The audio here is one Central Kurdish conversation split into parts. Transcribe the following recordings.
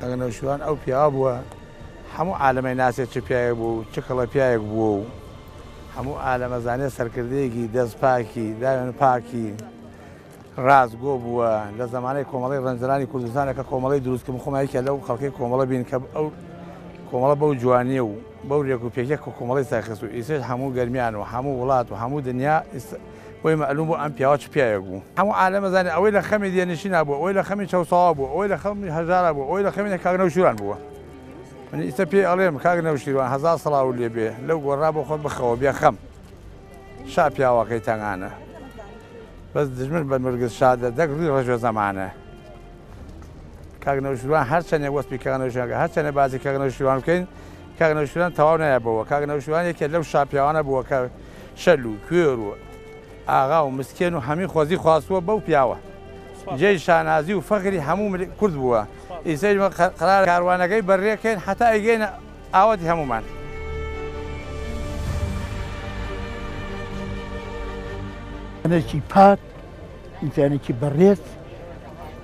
ئەگەر نەوشیروان ئەو پیاوە بووە هەموو عالەم ئەیناسێت چ پیاوێک بووە و چ کەڵە پیاوێک بووە و هەموو عالەم ئەزانێت سەرکردەیەکی دەست پاکی داوێن پاکی ڕاست گۆ بووە لە زمانەی کۆمەڵی ڕەنجەرانی کوردستانە کە کۆمەڵی دروستکم خۆمایکە لەو خەڵکی کۆمەڵە بین کە ئەو کۆمەڵە بەو جوانیە و بەو رێک و پێکێک و کۆمەڵی ساخست و ئیسێش هەموو گەرمیان و هەموو وڵات و هەموو دنیا بۆی مەعلووم بوو ئەم پیاوە چ پیاوێک بوو. هەموو عالەم ئەزانی ئەوەی لە خەمی دێرنشینا بووە، ئەوەی لە خەمی چەوساوا بووە، ئەوەی لە خەمی هەژارا بووە، ئەوەی لە خەمی کاک نەوشیروان بووە. من ئیستە پێی ئەڵێم، کاک نەوشیروان هەزار سڵاوت لێ بێ، لەو گۆڕا بۆ خۆت بخەوە بێ خەم. شا پیاوەکەی تەنگانە. بەس دژمن بە نرگس شا دە دەک ڕووی ڕەش و زەمانە. کاک نەوشیروان هەر چەنێ وەسپی کاک نەوشیروان کە هەر چەنێ باسی کاک نەوشیروان بکەین، کاک نەوشیروان تەواو نایە بۆوە. کاک نەوشیروان یەکێ لەو شا پیاوانە بووە کە، شەل و کوێر و ئاغا و مسکێن و هەمی خۆزی خواستووە بەو پیاوە جێی شانازی و فەخری هەموو ملی کورد بووە ئیسە ئیمە قەرارە کاروانەکەی بەررێ کەین حەتا ئەیگەینە ئاوەتی هەموومان. ژنێکی پاک، ئینسانێکی بەڕێز.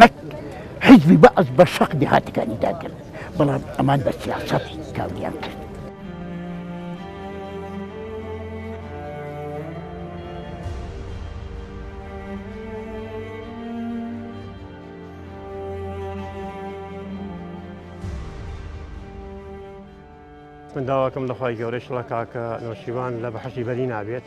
نەک حیزبی بەعس بە شەق دێهاتەکانی داگرت، بەڵام ئەمان بە سیاسەت کاولیان کرد. من داواکەم لە خوای گەورەی شڵە کاکە نەوشیروان لە بەحشی بەری نابێت.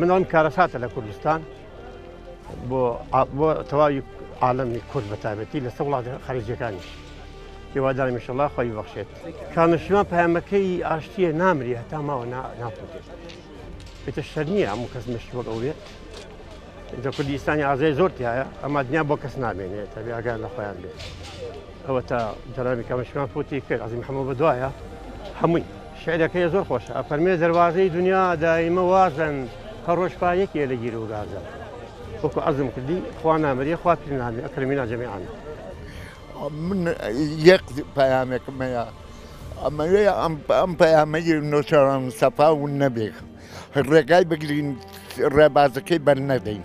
من ئەم کارەساتە لە کوردستان بۆ بۆ تەواوی عاالمی کورد بە تابەتی لە سە وڵات خەرجیەکانیش هێوادارمیشەڵا خۆی بەخشێت کامەشیمان پامەکەی ئاشتیە نامری هەتا ماوە ناپوتێت پێتە شەر نییە هەموو کەس مشت وەک ئەوێت لە کوردستانی ئازای زۆر تایە ئەما دنیا بۆ کەس نامێنێت تەبی ئاگار لە خۆیان بێت ئەوە تا جرامی کامەشیمان پوتی کرد عزی محەممە بە دوایە هەمووی شعرەکەی زۆر خۆشە ئەفەرمێ دەروازەی دونیا دایمە وازن هەر ڕۆژ پا یەکێ لە گیر و گازە وەکو عەزم کردی خوا نامەریە خوا پیر نامی ئەکرمینا جەمیعان. من یەک پەیامێکم هەیە ئەمەوێ ئەم پەیامەی نۆچەران سەفا ون نەبێ ڕێگای بگرین ڕێبازەکەی بەر نەدەین.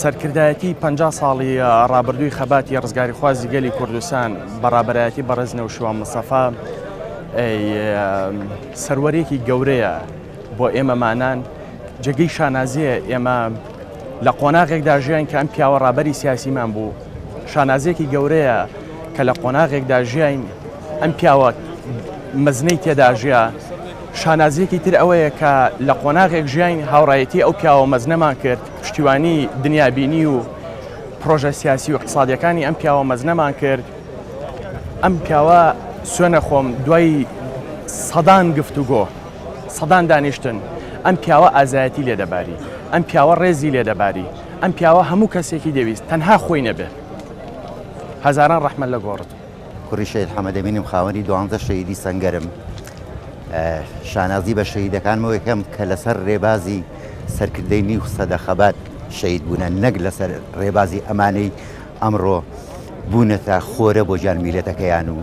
سەرکردایەتی پەنجا ساڵی ڕابردووی خەباتی ڕزگاریخوازی گەلی کوردستان بەڕابەرایەتی بەڕێز نەوشیوان مستەفا سەروەرێکی گەورەیە بۆ ئێمەمانان جێگەی شانازیە ئێمە لە قۆناغێکدا ژیان کە ئەم پیاوە ڕابەری سیاسیمان بوو شانازێکی گەورەیە کە لە قۆناغێکدا ژیاین ئەم پیاوە مەزنەی تێداژە شانازیەکی تر ئەوەیە کە لە قۆناغێک ژیاین هاوڕایەتی ئەو پیاوە مەزنەمان کرد پشتیوانی دنیابینی و پڕۆژە سیاسی و اقتصادیەکانی ئەم پیاوە مەزنەمان کرد ئەم پیاوە سوێنە خۆم دوای سەدان گفتوگۆ سەدان دانیشتن ئەم پیاوە ئازایەتی لێدەباری ئەم پیاوە ڕێزی لێدەباری ئەم پیاوە هەموو کەسێکی دەویست تەنها خۆی نەبێت هەزاران ڕەحمە لە گۆڕت کوڕی شەهید حەمەدەمینم خاوەنی دوانزە شەهیدی سەنگەرم شانازی بە شەهیدەکانمەوە یەکەم کە لەسەر ڕێبازی سەرکردەی نیو سەدە خەبات شەید بوونە نەک لەسەر ڕێبازی ئەمانەی ئەمڕۆ بوونەتە خۆرە بۆ جان میلەتەکەیان و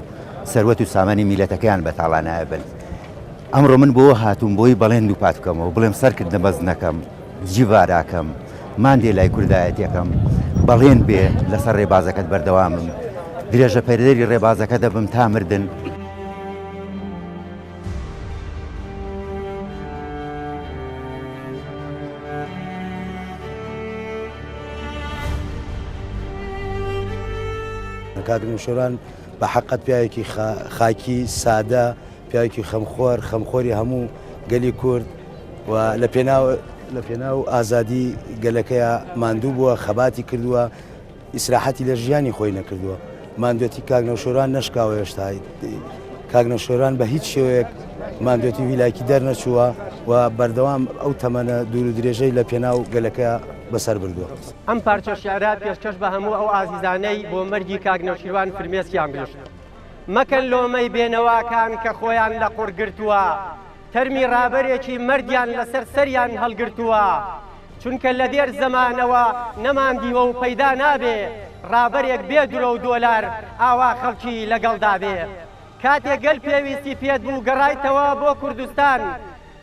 سەروەت و سامانی میلەتەکەیان بە تاڵانایبن ئەمڕۆ من بۆ هاتووم بۆی بەڵێن دووپات بکەمەوە بڵێم سەرکردە بەز نەکەم جیڤاراکەم، ماندێلای کوردایەتیەکەم، بەڵێن بێ لەسەر ڕێبازەکەت بەردەوامم، درێژەپێردەری ڕێبازەکە دەبم تا مردن. کاک نوشیروان بە حەقت پیاوێکی خاکی سادە، پیاوێکی خەمخۆر، خەمخۆری هەموو گەلی کورد و لە پێناو لە پێناو ئازادی گەلەکەیا ماندوو بووە، خەباتی کردووە، ئیسراحەتی لە ژیانی خۆی نەکردووە. ماندوێتی کاک نەوشێروان نەشکاوە هێشتا. کاک نەوشێروان بە هیچ شێوەیەک ماندوێتی وی لایکی دەرنەچووە و بەردەوام ئەو تەمەنە دوور و درێژەی لە پێناو گەلەکەیا بەسەر بردووە. ئەم پارچە شیعرە پێشکەش بە هەموو ئەو ئازیزانەی بۆ مەرگی کاک نەوشیروان فرمێسکیان ڕیشت. مەکەن لۆمەی بێنەواکان کە خۆیان لە قوڕ گرتووە، تەرمی ڕابەرێکی مەردیان لەسەر سەریان هەڵگرتووە، چونکە لە دێر زەمانەوە نەماندیوە و پەیدا نابێ ڕابەرێک بێ درۆ و دۆلار ئاوا خەڵکی لەگەڵدا بێ. کاتێ گەل پێویستی پێت بوو گەڕایتەوە بۆ کوردستان،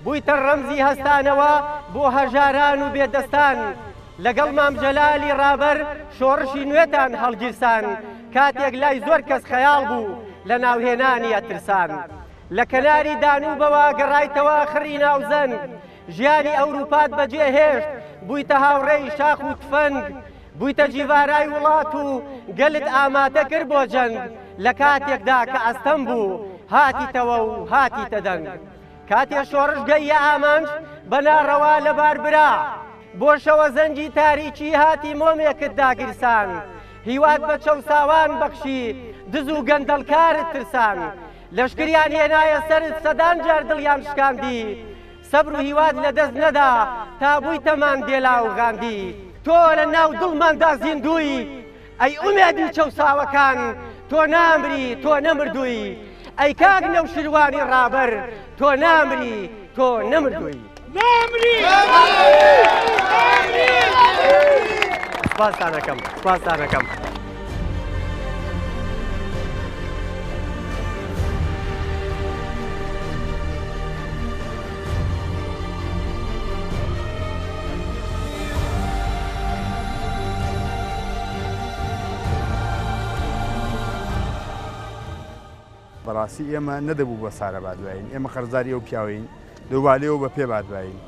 بوویتە ڕەمزی هەستانەوە بۆ هەژاران و بێدەستان، لەگەڵ مام جەلالی ڕابەر شۆڕشی نوێتان هەڵگیرساند، کاتێک لای زۆر کەس خەیاڵ بوو، لە ناوهێنانی ئەترسان. لە کەناری دانووبەوە گەڕایتەوە خڕی ناوزەنگ، ژیانی ئەورووپات بەجێهێشت، بوویتە هاوڕێی شاخ و تفەنگ، بوویتە جیڤارای وڵات و گەلت ئامادە کرد بۆ جەنگ، لە کاتێکدا کە ئەستەم بوو، هاتیتەوە و هاتیتە دەنگ. کاتێ شۆڕش گەییە ئامانج بە ناڕەوا لەبار برا، بۆ شەوە زەنگی تاریکی هاتی مۆمێکت داگیرسان، هیوات بە چەوساوان بەخشی، دز و گەندەڵکارت ترسان، لەشکریان هێنایە سەرت سەدان جار دڵیان شکاندیت، سەبر و هیوات لە دەست نەدا تا بوویتە ماندێلا و غاندی. تۆ لە ناو دڵماندا زیندووی، ئەی ئومێدی چەوساوەکان تۆ نامری تۆ نەمردووی ئەی کاک نەوشیروانی ڕابەر تۆ نامری تۆ نەمردووی سپاسانەکەم سپاسانەکەم. بەڕاستی ئێمە نەدەبوو بە سارە بادواین ئێمە قەرزاری ئەو پیاوین دووبالەوە بە پێ بادواین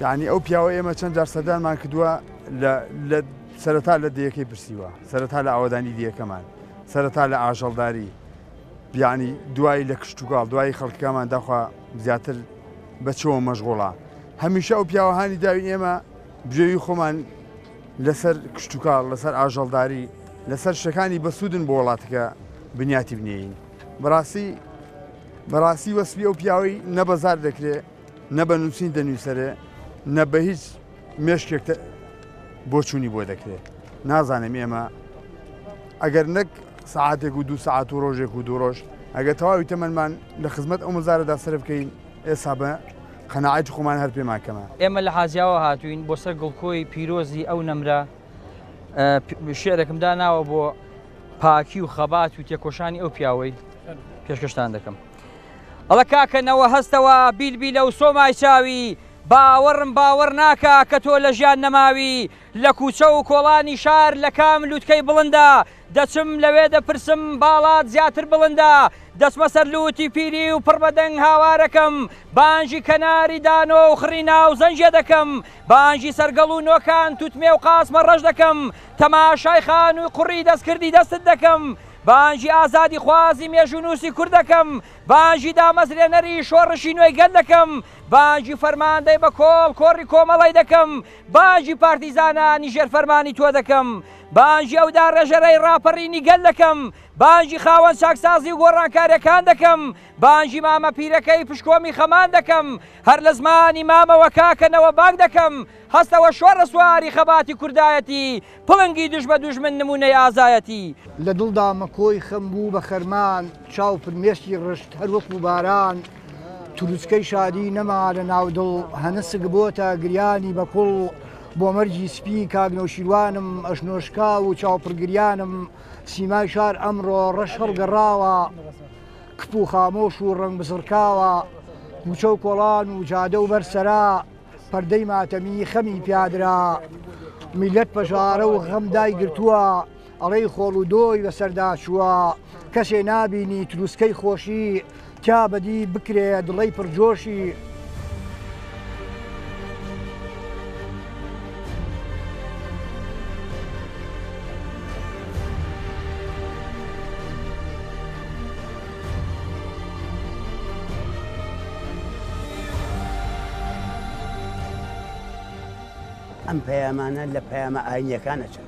یعنی ئەو پیاوە ئێمە چەند جار سەدانمان کردووە لە سەرەتا لە دیەکەی پرسیوە سەرەتا لە ئاوادانی دیەکەمان سەرەتا لە ئاژەڵداری یانی دوای لە کشتوکاڵ دوای خەڵکەکەمان داخوا زیاتر بەچەوە مەشغوڵە هەمیشە ئەو پیاوەهانی داوین ئێمە بژێوی خۆمان لەسەر کشتوکاڵ لەسەر ئاژەڵداری لەسەر شەکانی بەسوودن بۆ وڵاتەکە بنیاتی بنێین بەڕاستی بەڕاستی وەسپی ئەو پیاوەی نەبەزار دەکرێت نە بە نووسین دەنووسرێ نە بە هیچ مێشکێک بۆچوونی بۆ دەکرێت نازانم ئێمە ئەگەر نەک سعاتێک و دو سعات و ڕۆژێک و دوڕۆژ ئەگە تەواوی تەمەمان لە خزمەت ئەو مەزارەدا سرف بکەین ئێسا بە قەنەعاتی خۆمان هەر پێمان کەمە ئێمە لە حازیاوە هاتوین بۆ سەر گڵکۆی پیرۆزی ئەو نەمرە شعرێکمدا ناوە بۆ پاکی و خەبات و تێکۆشانی ئەو پیاوەی پێشکەشتان دەکەم. ئەڵە کاکە نەوە هەستەوە بیل بیلە و سۆمای چاوی باوەڕم باوەڕ ناکا کە تۆ لە ژیان نەماوی لە کوچە و کۆڵانی شار لە کام لوتکەی بڵندە دەچم لەوێ دەپرسم باڵات زیاتر بڵندە دەچمە سەر لوتی پیری و پڕ بە دەنگ هاوارەکەم بانگی کەناری دانۆ و خڕی ناو زەنگێ دەکەم بانگی سەرگەڵ و نۆکان توتمێ و قاسمە ڕەش دەکەم تەماشای خانووی قوڕی دەستکردی دەستت دەکەم بانگی ئازادیخوازی مێژوونووسی کورد دەکەم، بانگی دامەزرێنەری شۆڕشی نوێی گەل دەکەم، بانگی فەرماندەی بە کۆڵ کۆڕی کۆمەڵەی دەکەم، بانگی پارتیزانانی ژێر فەرمانی تۆ دەکەم، بانگی ئەو داڕێژەرەی ڕاپەڕینی گەل دەکەم، بانگی خاوەن چاکسازی و گۆڕانکاریەکان دەکەم، بانگی مامە پیرەکەی پشکۆمی خەمان دەکەم، هەر لە زمانی مامەوە کاکە نەوە بانگ دەکەم، هەستەوە شۆڕە سواری خەباتی کوردایەتی، پڵنگی دژ بە دوژمن نموونەی ئازایەتی. لە دڵدا مەکۆی خەم بوو بە خەرمان، چاو فرمێسکی ڕشت هەر وەکوو باران، ترووسکەی شادی نەما لە ناو دڵ، هەنسک بۆتە گریانی بە کوڵ، بۆ مەرگی سپی کاک نەوشیروانم، ئەژنۆ شکاو و چاو پڕ گریانم، سیمای شار ئەمڕۆ ڕەش هەڵگەڕاوە، کپ و خامۆش و ڕەنگ بزڕکاوە، کوچە و کۆڵان و جادە و بەر سەرا، پەردەی ماتەمی خەمی پیادرا میلەت پەژارە و غەم دای گرتووە ئەڵێی خۆڵ و دۆی بەسەردا چووە کەسێ نابینی تروسکەی خۆشی تیا بەدی بکرێ دڵەی پڕجۆشی ئەم پەیامانە لە پەیامە ئاینیەکان ئەچن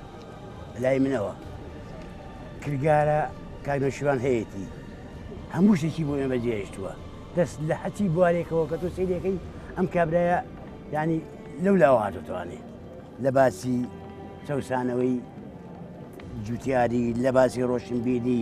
لای منەوە کرگارە کاگنەشیوان هەیەی هەموو شتێکی بۆ ئێمە جێهشتووە دەست لە حەچی بوارێکەوە کە تۆ سیرەکەی ئەم کابراە ینی لەو لاواتوانێ لە باسی چەسانەوەی جوتیاری لە باسی ڕۆشنبیری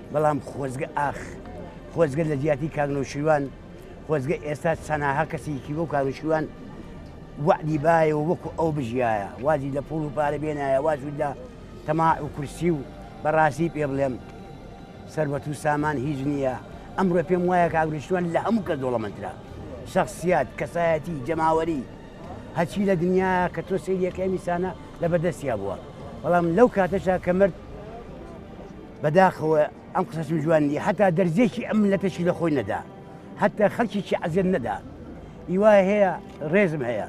بەڵام خۆزگە ئاخ خۆزگە لە جیاتی کاک نەوشیروان خۆزگە ئێستا چەناها کەسێکی وەک کاک نەوشیروان وەعدی بایەوە وەکو ئەو بژیایە وازی لە پوڵ و پارە بێنایە واز لە تەما و کورسی و بەڕاستی پێ بڵێم سربەت و سامان هیچ نییە ئەمڕۆ پێم وایە کاک نەوشیروان لە هەموو کەس دۆڵەمەندترە شخصیات کەسایەتی جەماوەری هەچی لە دنیا کە تۆ سریەکە ئەمیسانە لە بەدەستیا بووە بەڵام لەو کاتەشا کە مرد بەداخەوە ئەم قسەشم جوان نیە هەتا دەرزێکی ئەم ملەتەشی لە خۆی نەدا هەتا خەلکیی عەزێت نەدا ئیوای هەیە ڕێزم هەیە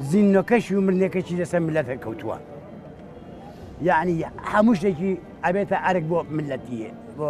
زیننۆکەش و مرنێکەکی لەسەر ملەتە کەوتووە یعنی هەموو شتێکی ئەبێتە ئەرک بۆ ملەتیە بۆ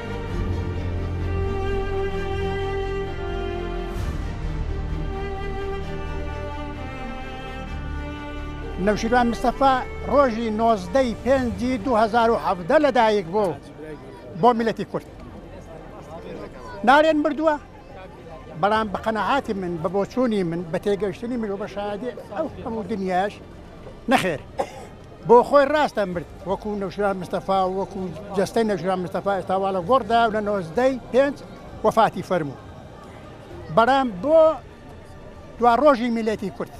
نەوشیروان مستەفا ڕۆژی نۆزدەی پێنجی 2017 لەدایک بوو بۆ میلەتی کورد نارێن بردووە بەڵام بە قەنەعاتی من بە بۆچوونی من بە تێگەشتنی مرۆ بە شادێ ئەو هەموو دنیاش نەخێر بۆ خۆی ڕاستە مرد وەکو نەوشیروان مستەفا و وەکو جەستەی نەوشیروان مستەفا ئێستا وا لە گۆڕدایە و لە نۆزدەی پێنج وەفاتی فەرموو بەرام بۆ دوا ڕۆژی میلەتی کورد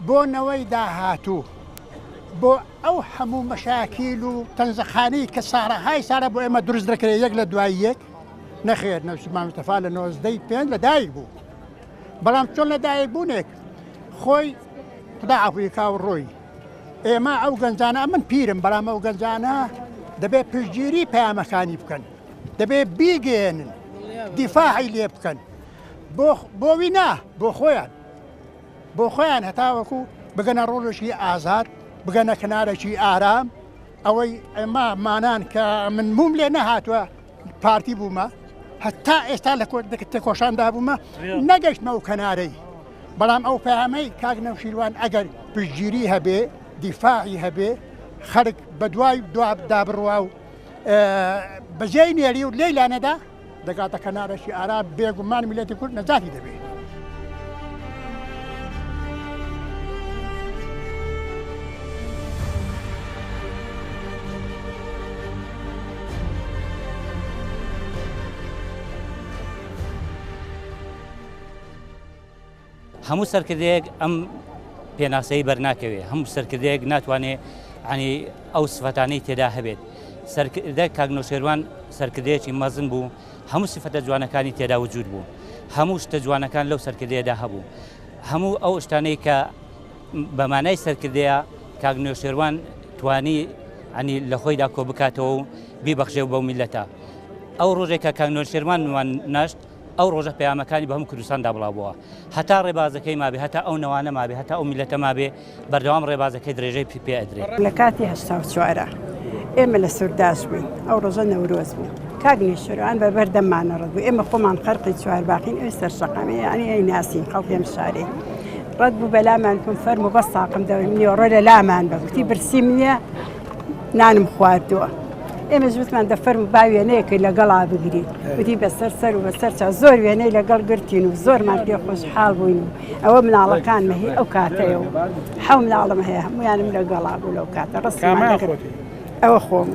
بۆ نەوەی داهاتوو بۆ ئەو هەموو مەشاکیل و تەنزەخانی کە ساڕەهای سارە بۆ ئێمە دروست دەکرێت یەک لە دوای یەک نەخێر نەوشیروان مستەفا لە نۆزدەی پێنج لە دایک بوو بەڵام چۆن لە دایک بوونێک خۆی خدا عفوی کا و ڕۆی ئێمە ئەو گەنجانە من پیرم بەڵام ئەو گەنجانە دەبێت پشتگیری پەیامەکانی بکەن دەبێت بیگەێنن دیفاعی لێ بکەن بۆ وینا بۆ خۆیان بۆ خۆیان هەتاوەکو بگەنە ڕۆژێکی ئازاد بگەنە کنارەکی ئارام ئەوەی ئەمە مانان کە من موم لێ نەهاتوە پارتی بوومە هەتا ئێستا لە تێکۆشاندا بوومە نەگەشتمە و کەنارەی بەڵام ئەو پامەی کاک نەوشیروان ئەگەر پشتگیری هەبێ دیفاعی هەبێ خەرک بە دوای دوابدا بڕوا و بەجێی نێری و لێی لانەدا دەگاتە کەنارەشی ئارا بێگومان میلەتی کورد نەجاتی دەبێت. هەموو سەرکردەیەک ئەم پێناسەی بەرناکەوێت هەموو سەرکردەیەک ناتوانێت عنی ئەو سفەتانەی تێدا هەبێت سەرکردە کاگنۆشێوان سەرکردەیەکی مەزن بوو هەموو سفەتە جوانەکانی تێدا وجود بوو هەموو شتە جوانەکان لەو سەرکردەیەدا هەبوو هەموو ئەو شتانەی کە بە مانای سەرکردەیە کاک نەوشێروان توانی عنی لە خۆیدا کۆ بکاتەوە و بیبەخشێ بەو میلەتە ئەو ڕۆژێک کە کاک نەوشێروان وان ناشت ئەو ڕۆژە پەیامەکانی بە هەموو کوردستاندا بڵاوبووە هەتا ڕێبازەکەی مابێ هەتا ئەو نەوانە مابێ هەتا ئەو میلەتە مابێ بەردەوام ڕێبازەکەی درێژەی پی پێ ئەدرێ لە کاتی هەشتا و چوارە ئێمە لە سورداش بووین ئەو ڕۆژە نەورۆز بوو کاک نێشێروان بە بەردەممانە ڕەت بوو ئێمە خۆمان خەرقی چوارباخین ئەوی سەرشەقامێ یانی ئەی ناسین خەڵکی ئەم شارەی ڕەت بوو بەلامان کم فەرم و بەس تاقم دەوری نیۆڕۆ لە لامان بە گوتی برسیم نییە نانم خواردووە ئێمە زوتمان دەفەرم با وێنەیەکەی لەگەڵا بگری وتی بەسەر سەر و بەسەر چا زۆر وێنەی لەگەڵ گرتین و زۆرمان پێ خۆشحاڵ بووین و ئەوە مناڵەکان مەهی ئەو کاتەیە و حەو مناڵم هەیە هەمویانم لەگەڵا بوو لەو کاتە ڕستمان ئەوە خۆم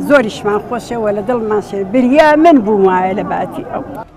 زۆریشمان خۆشەوە لە دڵمان شێ بریا من بووم وایە لە باتی ئەو.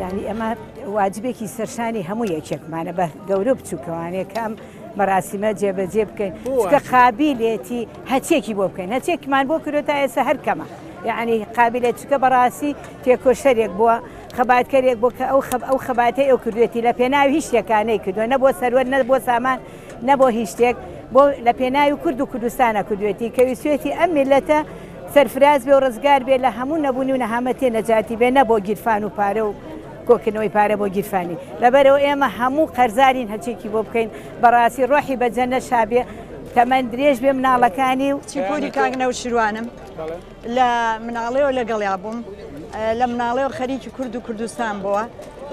یانی ئەمە واجبێکی سەرشانی هەموو یەکێکمانە بە گەورە بچووکەوانێ کەم مەراسیمە جێبەجێ بکەین چکە قابلێتی هەچێکی بۆ بکەین هەچێکمان بۆ کرێت تا ئێستا هەر کەمە یعنی قابلێت چکە بەڕاستی تێکۆشەرێک بووە خەباتکەرێک بۆ کە ئەو خەب ئەو خەباتی ئەو کردوێتی لە پێناوی شتەکانەی کردووە نە بۆ سەروەت نە بۆ سامان نە بۆ هیچ شتێک بۆ لە پێناوی کورد و کوردستانە کردوێتی کە ویسوێتی ئەم میلەتە سەرفراز بێ و ڕزگار بێ لە هەموو نەبوونی و نەهامەتی نەجاتی بێ نە بۆ گیرفان و پارە و کۆکردنەوەی پارە بۆ گیرفانی لەبەرەوە ئێمە هەموو قەرزارین هەچێکی بۆ بکەین بەڕاستی ڕۆحی بە جەنە شابێ تەمەن درێژ بێ مناڵەکانی و چیپۆری کاگنە و شروانم لە مناڵەوە لەگەڵیا بووم لە مناڵەوە خەریکی کورد و کوردستان بووە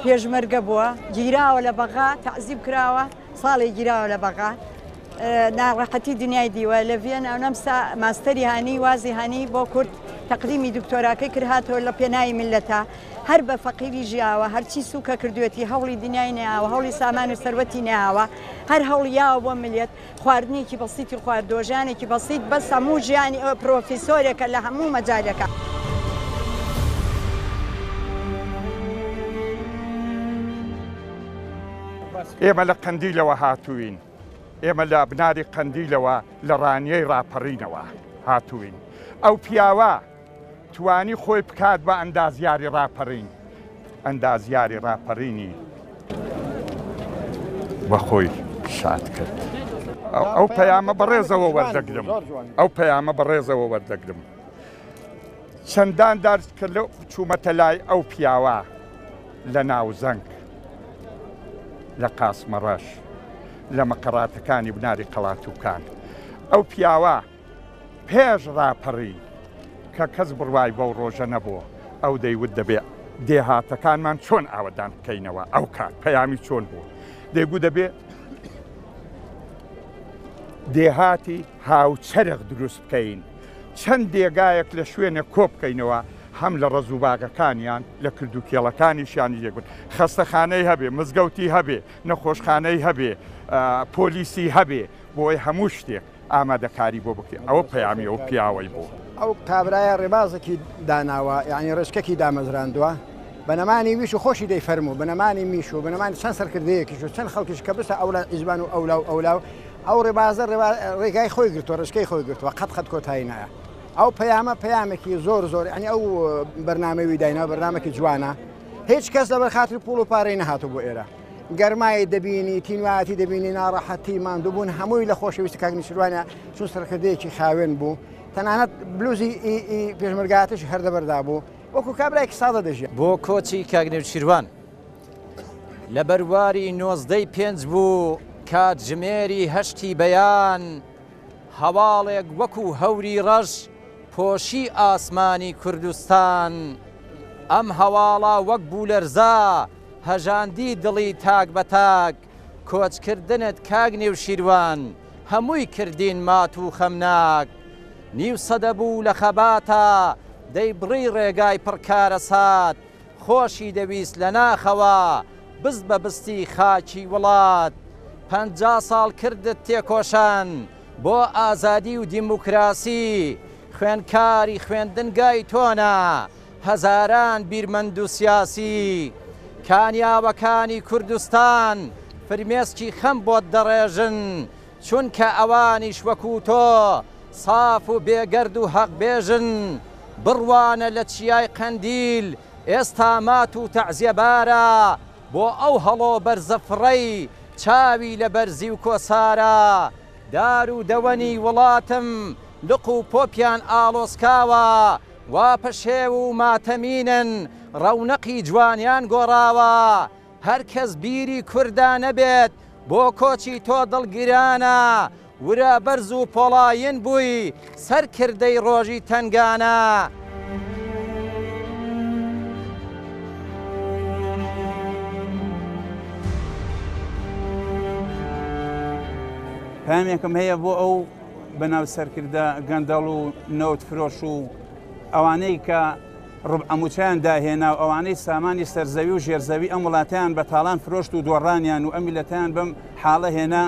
پێشمەرگە بووە گیراوە لە بەغا تعزیب کراوە ساڵێ گیراوە لە بەغا ناڕەحەتی دنیای دیوە لە ڤێن ئەونەمسا ماستەری هانی وازی هانی بۆ کورد تەقدیمی دکتۆراکەی کرهاتەوە لە پێناایی ملەتە هەر بە فەقیری ژیاوە هەرچی سوکە کردوێتی هەوڵی دنیای ناوە هەوڵی سامان و سەروەتی ناوە هەر هەوڵیاوە بۆ ملێت خواردنێکی بەسیتی خوارد دۆژانێکی بەسیت بە سەموو ژیانی ئەو پرۆفیسۆرێکە لە هەموو مەجارەکە. ئێمە لە قەندیلەوە هاتووین ئێمە لە بناری قەندیلەوە لە ڕانیەی ڕاپەڕینەوە هاتووین ئەو پیاوە توانی خۆی بکات بە ئەندازیاری ڕاپەڕین ئەندازیاری ڕاپەڕینی بەخۆی شاد کرد ئەو پەیامە بەڕێزەوە وەردەگرم ئەو پەیامە بەڕێزەوە وەردەگرم چەندان جار کە لە چوومەتە لای ئەو پیاوە لە ناوزەنگ، لە قاسمەڕەش، لە مەقەراتەکانی بناری قەڵاتووکان، ئەو پیاوە پێش ڕاپەڕی کە کەس بڕوای بەو ڕۆژە نەبوو، ئەو دەیوت دەبێ دێهاتەکانمان چۆن ئاوەدان بکەینەوە، ئەو کات پەیامی چۆن بوو، دەیگوو دەبێ دێهاتی. هاوچەرخ دروست بکەین چەند دێگایەک لە شوێنێک کۆبکەینەوە هەم لە ڕەز و باغەکانیان لە کرد و کێڵەکانیشیانی لێکبن خەستەخانەی هەبێ مزگەوتی هەبێ نەخۆشخانەی هەبێ پۆلیسی هەبێ بۆی هەموو شتێک ئامادەکاری بۆ بکرێن ئەوە پەیامی ئەو پیاوەی بوو ئەو کابرایە ڕێبازێکی داناوە یعنی ڕێچکەکی دامەزراندووە بەنەمانی ویش و خۆشی دەی فەرموو بنەمانی میش و بنەمانی چەند سەرکردەیەکیش و چەند خەڵکیش کە بسە ئەولا ئیزبان و ئەولا و ئەولا و ئەو ڕێبازە ڕێگای خۆی گرتووە ڕێچکەی خۆی گرتووە قەت قەت کۆتایی نایە ئەو پەیامە پەیامێکی زۆر زۆر ئەنی ئەو بەرنمەوی دایناوە بەرنمەکی جوانە هیچ کەس لەبەر خاتری پوڵ و پارەی نەهاتوو بۆ ئێرە گەرمایی دەبینی تینوایەتی دەبینی ناڕەحەتی ماندووبوون هەمووی لە خۆشەویستی کاگنیشروانە چون سەرکردەیەکی خاوێن بوو تەنانەت بلوزی پێشمەرگاتش هەردەبەردا بوو وەکو کابراایکی سادە دەژێت بۆ کۆچی کاگنێوچیروان لە بەرواری نۆزدەی پێنج بوو کاتژمێری هەشتی بەیان هەواڵێک وەکو هەوری ڕەش پۆشی ئاسمانی کوردستان. ئەم هەواڵە وەک بوولەرزە هەژاندی دڵی تاک بە تاک، کۆچکردنت کاک نێوشیروان هەمووی کردین مات و خەمناک. نیو سەدە بوو لە خەباتە دەیبڕی ڕێگای پڕ کارەسات، خۆشی دەویست لە ناخەوە بست بە بستی خاکی وڵات پەنجا ساڵ کردت تێکۆشان بۆ ئازادی و دیموکراسی خوێنکاری خوێندنگای تۆنە هەزاران بیرمەندو سیاسی کانیاوەکانی کوردستان فرمێسکی خەم بۆت دەڕێژن چونکە ئەوانیش وەکو تۆ ساف و بێگەرد و هەق بێژن، بڕوانە لە چیای قەندیل ئێستا مات و تەعزیە بارە بۆ ئەو هەڵۆ بەرزە فڕەی چاوی لە بەرزی و کۆسارە دار و دەوەنی وڵاتم لق و پۆپیان ئاڵۆسکاوە وا پەشێو و ماتەمینن ڕەونەقی جوانیان گۆڕاوە هەر کەس بیری کوردا نەبێت بۆ کۆچی تۆ دڵ گرانە ورە بەرز و پۆڵایین بووی سەر کردەی ڕۆژی تەنگانە. پەیامێکم هەیە بۆ ئەو بەناو سەرکردە گەندەڵ و نەوت فرۆش و ئەوانەی کە ڕوبعە موچەیان داهێنا و ئەوانەی سامانی سەرزەوی و ژێرزەوی ئەم وڵاتەیان بە تاڵان فرۆشت و دۆڕانیان و ئەم میللەتەیان بەم حاڵە هێنا،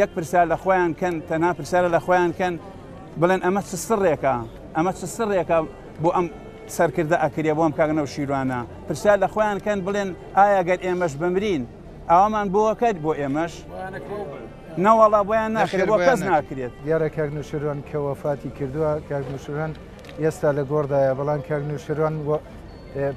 یەک پرسیار لە خۆیان کەن، تەنها پرسیارە لە خۆیان کەن بڵێن ئەمە چ سڕێکە، ئەمە چ سڕێکە بۆ ئەم سەرکردە ئەکرێ، بۆ ئەم کاک نەوشیروانە، پرسیار لە خۆیان کەن بڵێن ئایا گەر ئێمەش بمرین ئاوامان بۆ ئەکەێت بۆ ئێمەش؟ نەوەڵا بۆیان ناکرێت، بۆ کەس ناکرێت. دیارە کاک نەوشیروان کە وەفاتی کردوە، کاک نەوشیروان، ئێستا لە گۆڕدایە بەڵام کاک نوشروان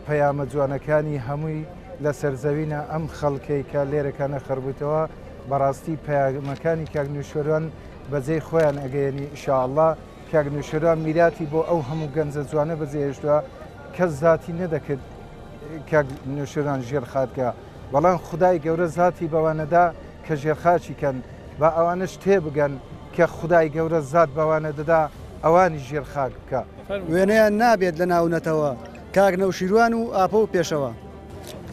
پەیامە جوانەکانی هەمووی لەسەر زەوینە ئەم خەڵکەی کە لێرەکانە خڕبووتەوە بەڕاستی پەیامەکانی کاک نوشروان بەجێی خۆیان ئەگەیەنی ئیشاءاللە کاک نوشروان میراتی بۆ ئەو هەموو گەنجە جوانە بەجێهێشتووە کەس زاتی نەدەکرد کاک نوشروان ژێر خاتکە بەڵام خودای گەورە زاتی بەوانەدا کە ژێرخاچی کەن با ئەوانەش تێبگەن کە خودای گەورە زات بەوانە دەدا ئەوانی ژێر خاک بکە. وێنەیان نابێت لە ناو نەتەوە کاک نەوشیروان و ئاپۆ و پێشەوا.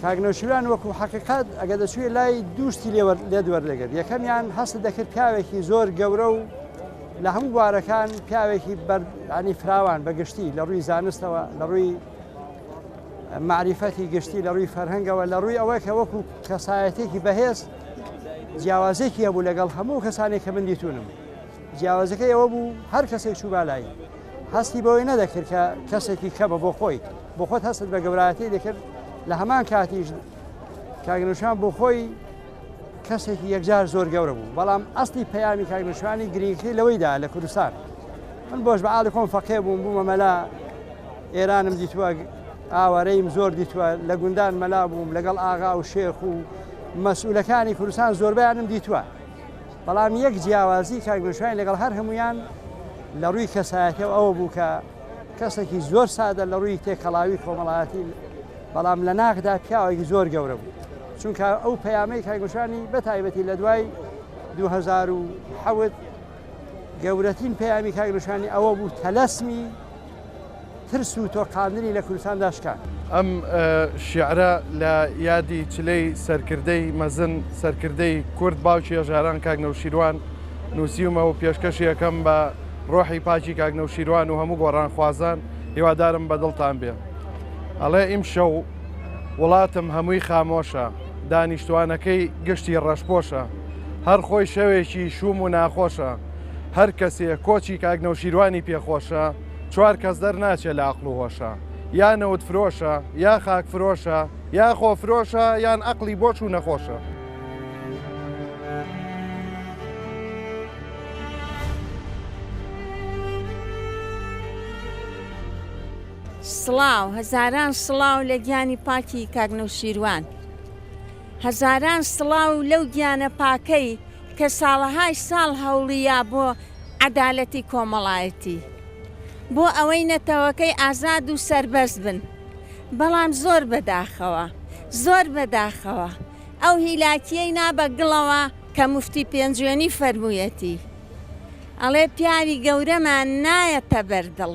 کاک نەوشیروان وەکو حەقیقەت ئەگەر دەچوویە لای دوو شتی لێت وەردەگرت یەکەمیان هەست دەکرد پیاوێکی زۆر گەورە و لە هەموو بوارەکان پیاوێکی بەردانی فراوان بەگشتی لە ڕووی زانستەوە لە ڕووی مەعریفەتی گشتی لە ڕووی فەرهەنگەوە لە ڕووی ئەوەی کە وەکو کەسایەتێکی بەهێز جیاوازێکی هەبوو لەگەڵ هەموو کەسانێک کە من دیتونم جیاوازەکە ئەوە بوو هەر کەسێک چوو بالایی هەستی بەوەی نەدەکرد کە کەسێکی کەمە بۆ خۆی بۆ خۆت هەست بە گەوراتی دەکرد لە هەمان کاتیش کاگنشان بۆ خۆی کەسێکی یەکجار زۆر گەورە بوو بەڵام ئەستی پەیامی کاگنشانی گرنگی لەوەیدا لە کوردستان من بۆش بەعاالکۆم فەقێ بووم بوومە مەلا ئێرانم دیتوە ئاوارەیم زۆر دیتوە لە گوندان مەلا بووم لەگەڵ ئاغا و شێخ و مەسئولەکانی کوردستان زۆربیانم دیتوە بەڵام یەک جیاوازی کاگوشوین لەگەڵ هەر هەمویان لە ڕووی کەسایەتەوە ئەوە بوو کە کەسێکی زۆر سادە لە ڕووی تێکەڵاوی کۆمەڵایەتی بەڵام لە ناخدا پیاوێکی زۆر گەورە بوو چونکە ئەو پەیامەی کاگوشانی بە تایبەتی لە دوای 2010 گەورەترین پەیامی کاک نیشانی ئەوە بوو تەلەسمی ترس و تۆقاندنی لە کوردستاندا شکان. ئەم شیعرە لە یادی چلەی سەرکردەی مەزن، سەرکردەی کورد، باوکی هەژاران کاک نەوشیروان نووسیومە و پێشکەشی ئەکەم بە رۆحی پاکی کاک نەوشیروان و هەموو گۆڕانخوازان، هیوادارم بە دڵتان بێ. ئەڵێ، ئیمشەو. وڵاتم هەمووی خامۆشە دانیشتوانەکەی گشتی ڕەشپۆشە هەر خۆی شەوێکی شووم و ناخۆشە هەر کەسێ کۆچی کاک نەوشیروانی پێخۆشە چوار کەس دەرناچێ لە ئەقڵ و هۆشە یا نەوت فرۆشە یا خاک فرۆشە یا خۆ فرۆشە یان ئەقلی بۆش و نەخۆشە. سڵاو هەزاران سڵاو لە گیانی پاکی کاک نەوشیروان هەزاران سڵاو لەو گیانە پاکەی کە ساڵەهای ساڵ هەوڵییا بۆ عەدالەتی کۆمەڵایەتی بۆ ئەوەی نەتەوەکەی ئازاد و سەربەست بن بەڵام زۆر بەداخەوە زۆر بەداخەوە ئەو هیلاکیەی نا بە گڵەوە کە مفتی پێنجوێنی فەرموویەتی ئەڵێ پیاوی گەورەمان نایەتە بەر دڵ.